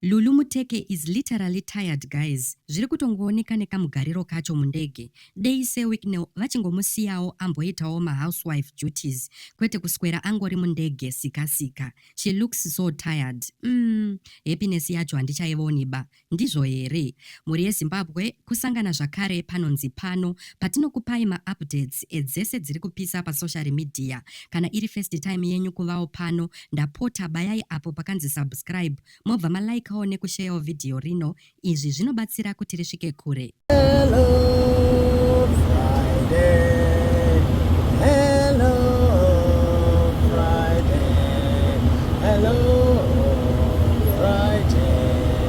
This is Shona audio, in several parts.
Lulu Muteke is literally tired guys zviri kutongooneka nekamugariro kacho mundege dei Sir Wicknell vachingomusiyawo amboitawo ma housewife duties kwete kuswera angori mundege sika sika she looks so tired umm happiness yacho handichaioniba ndizvo here mhuri yeZimbabwe Kusangana zvakare panonzi pano patinokupai ma updates edzese dziri kupisa pa social media. Kana iri first time yenyu kuvawo pano ndapota bayai apo pakanzi subscribe mobva ma likeawo neku sharewo video rino izvi zvinobatsira kuti risvike kure. Hello, Friday.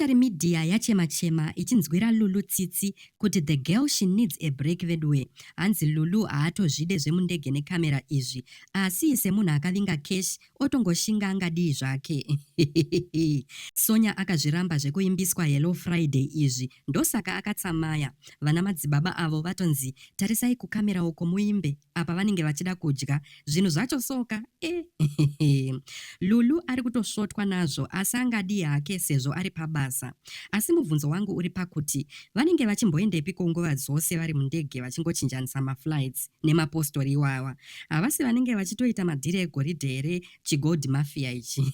After media yachema chema ichinzwira Lulu tsitsi kuti the girl she needs a break veduwe hanzi Lulu haatozvide zvemundege ne camera izvi asi semunhu akavinga cash otongoshinga angadii zvake Sonya akazviramba zvekuimbiswa Hello Friday izvi ndosaka akatsamaya vana madzibaba avo vatonzi tarisai kucamera uko muimbe apa vanenge vachida kudya zvinhu zvacho soka eh, lulu ari kutosvotwa nazvo asi angadii hake sezvo ari pabasa asi mubvunzo wangu uri pakuti vanenge vachimboendepi ko nguva dzose vari mundege vachingochinjanisa maflights nemapostori iwawa havasi vanenge vachitoita madhiri egoridhe here chigold mafia ichi